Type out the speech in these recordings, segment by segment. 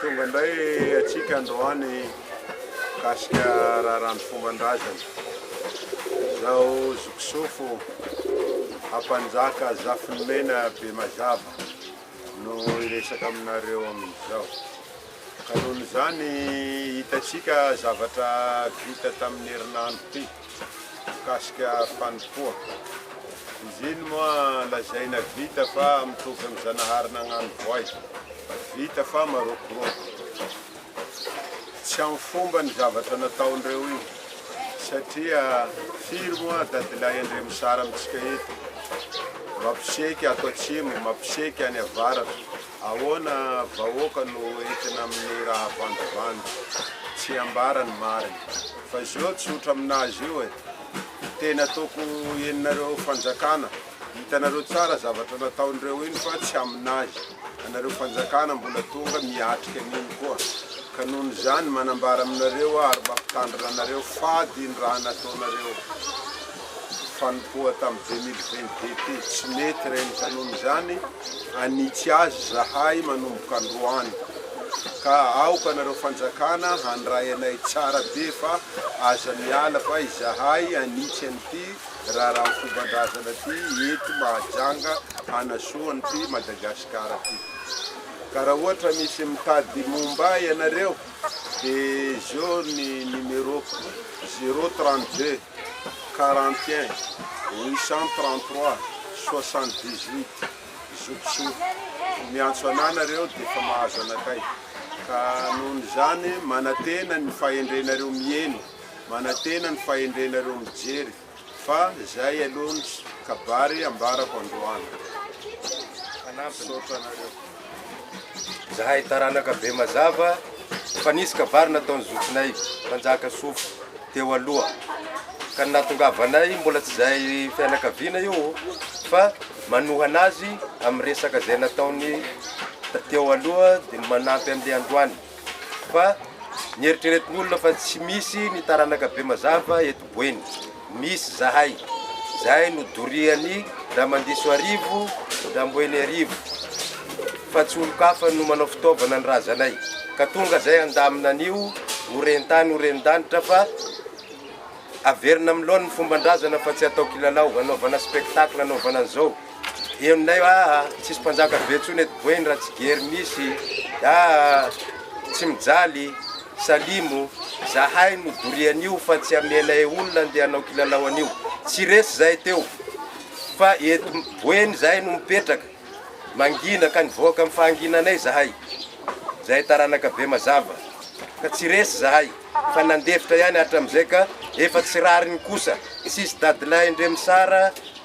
Tonga indray antsika androany mikasika raharano fomban-drazana. Izao zokisofo Ampanjaka Zafinimena Bemazava no hiresaka aminareo amin'izao. Ka noho izany hitantsika zavatra vita tamin'ny herinandro ity. mikasika fanompoana. Izy iny moa lazaina vita fa mitovy amin'ny Zanahary nagnano voay. Vita fa marokoroko. Tsy amin'ny fomba ny zavatra nataondreo io satria firy moa dadilahy Andriamisara amintsika eto mampiseky ato atsimo, mampiseky any avaratra. Ahoana vahoaka no entina amin'ny raha vandivandy tsy ambara ny marina fa zao tsotra aminazy io e! Tena toko eninareo fanjakana hitanareo tsara zavatra nataon'ireo iny fa tsy aminazy anareo fanjakana mbola tonga miatrika an'iny koa ka noho ny zany manambara aminareo ary mampitandrina anareo fady ny raha nataonareo fanompoa tam 2022 ty tsy mety reny ka noho izany anitsy azy zahay manomboka androany ka aoka nareo fanjakana handray anay tsara be fa aza miala fa izahay anitsy an'ity raharaha fombandrazana ty eto mahajanga hanasoa an'ity Madagascar ty ka raha ohatra misy mitady momba ahy ianareo de zao ny numeroko zero trente deux quarante et un, huit cent trente trois, soixante dix huit, zokisoa. Miantso anah nareo de efa mahazo anakay. Ka nohon izany manatena ny fahendrenareo miheno, manatena ny fahendrenareo mijery fa zay aloha ny kabary ambarako androany. Misaotra anareo. Zahay taranaka be mazava fa nisy kabary nataon'ny zokinay mpanjaka sofo teo aloha ka ny nahatongavanay mbola tsy izay fianakaviana io fa manohana azy amin'ny resaka izay nataony teo aloha dia manampy an'ilay androany. fa ny eritreretin'olona fa tsy misy ny taranaka be mazava eto Boeny. Misy zahay. Zahay no dorian'i Ramandiso Arivo, Ramboeny Arivo. Fa tsy olon-kafa no manao fitaovana ny razanay. Ka tonga zay handamina an'io ho ren-tany ho ren-danitra fa averina amin'ny laoniny fomban-drazana fa tsy atao kilalao, anaovana spectacle, anaovana an'izao. Henonay aa tsisy mpanjaka be tsony eto boeny ratsigery misy aa tsy mijaly salimo zahay no dorianio fa tsy amenay olona ndeha hanao kilalao anio tsy resy zay teo fa eto boeny zahay no mipetraka mangina ka nivoaka am fahanginanay zahay zahay taranaka be mazava ka tsy resy zahay fa nandefitra ihany hatramzay ka efa tsy rariny kosa tsisy dadilahy ndre misara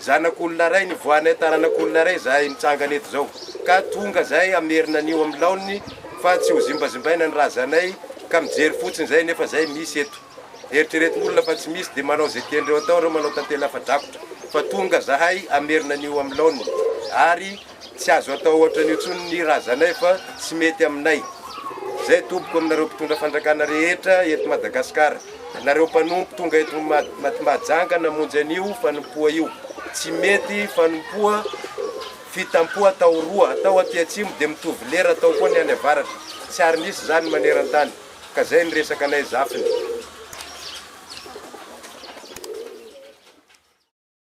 Zanak'olona iray nivoahanay taranak'olona iray izahay mitsangana eto izao ka tonga izahay hamerina an'io amin'ny laoniny fa tsy ho zimbazimbaina ny razanay ka mijery fotsiny izay nefa izay misy eto eritrereto olona fa tsy misy dia manao izay tian'ireo atao ireo manao tantely afa-drakotra fa tonga izahay hamerina an'io amin'ny laoniny ary Tsy azo atao ohatran'io tsony ny razanay fa tsy mety aminay. Zay tompoko aminareo mpitondra fandrakana rehetra eto Madagascar. Nareo mpanompo tonga eto Mahajanga namonjy an'io fanompoa io. Tsy mety fanompoa fitampoha atao roa atao aty atsimo de mitovy lera atao koa ny any avaratra. Tsy ary nisy zany manerantany. Ka zay ny resaka anay zafiny.